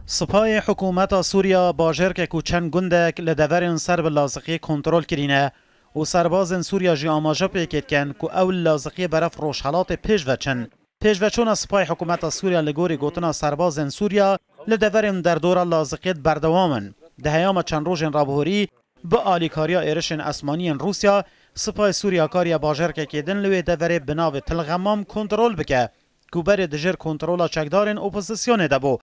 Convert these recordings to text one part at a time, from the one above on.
Sipayê hikûmeta Sûriya bajarkek û çend gundek li deverên ser bi Laziqiyê kontrol kirîne û serbazên Sûriya jî amaje pêkê dikin ku ew li Laziqiyê beref rojhelatê pêş veçin. Pêşveçûna sipayê hikûmeta Sûriya li gorî gotina serbazên Sûriya li deverên û derdora Laziqiyê di berdewam in. Di heyama çend rojên rabihorî bi alîkariya êrişên esmanî yên Rûsya, sipayê Sûriya kariye bajarkekê din li wê deverê bi navê Til Xemam kontrol bike ku berê di jêr kontrola çekdarên opozisyonê de bû.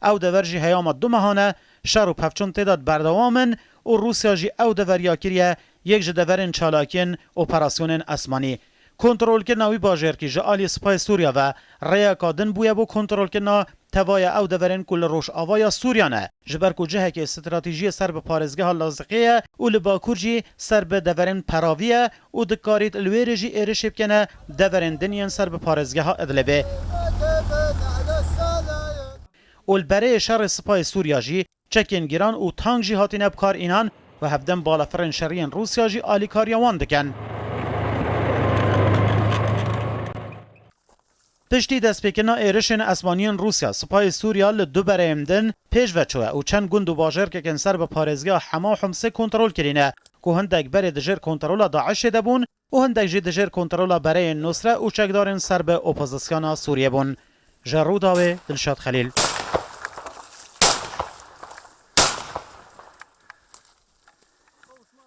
Ew dever jî heyama du mehan e, şer û pevçûn tê de berdewam in û Rûsya jî ew dever ya kiriye yek ji deverên çalakiyên operasyonên esmanî. Kontrolkirina wî bajêrkî ji aliyê Sipayê Sûriya ve rêyeka din bûye bo kontrolkirina tevaya ew deverên ku li rojavaya Sûriya ne, ji ber ku cihekê stratejiyê ser bi parêzgeha Laziqiyê ye û li bakur jî ser bi deverên Peravî ye û dikarît li wê rê jî êrişê bikene deverên din yên ser bi parêzgeha Idlibê û li berê şerê Sipayê Sûriya jî çekên giran û tank jî hatîne bikar înan û hevdem balafirên şerî yên Rûsya jî alîkariya wan dikin. Piştî destpêkirina êrişên esmanî yên Rûsya, Sipayê Sûriya li du bereyên din pêş ve çûye û çend gund û bajarkekên ser bi parêzgeha Hema û Himsê kontrol kirîne ku hindek berê di jêr kontrola DAIŞ'ê de bûn û hindek jî di jêr kontrola bereyên Nusre û çekdarên ser bi opozisyona Sûriyê bûn. Ji Rûdawê, Dilşad Xelîl.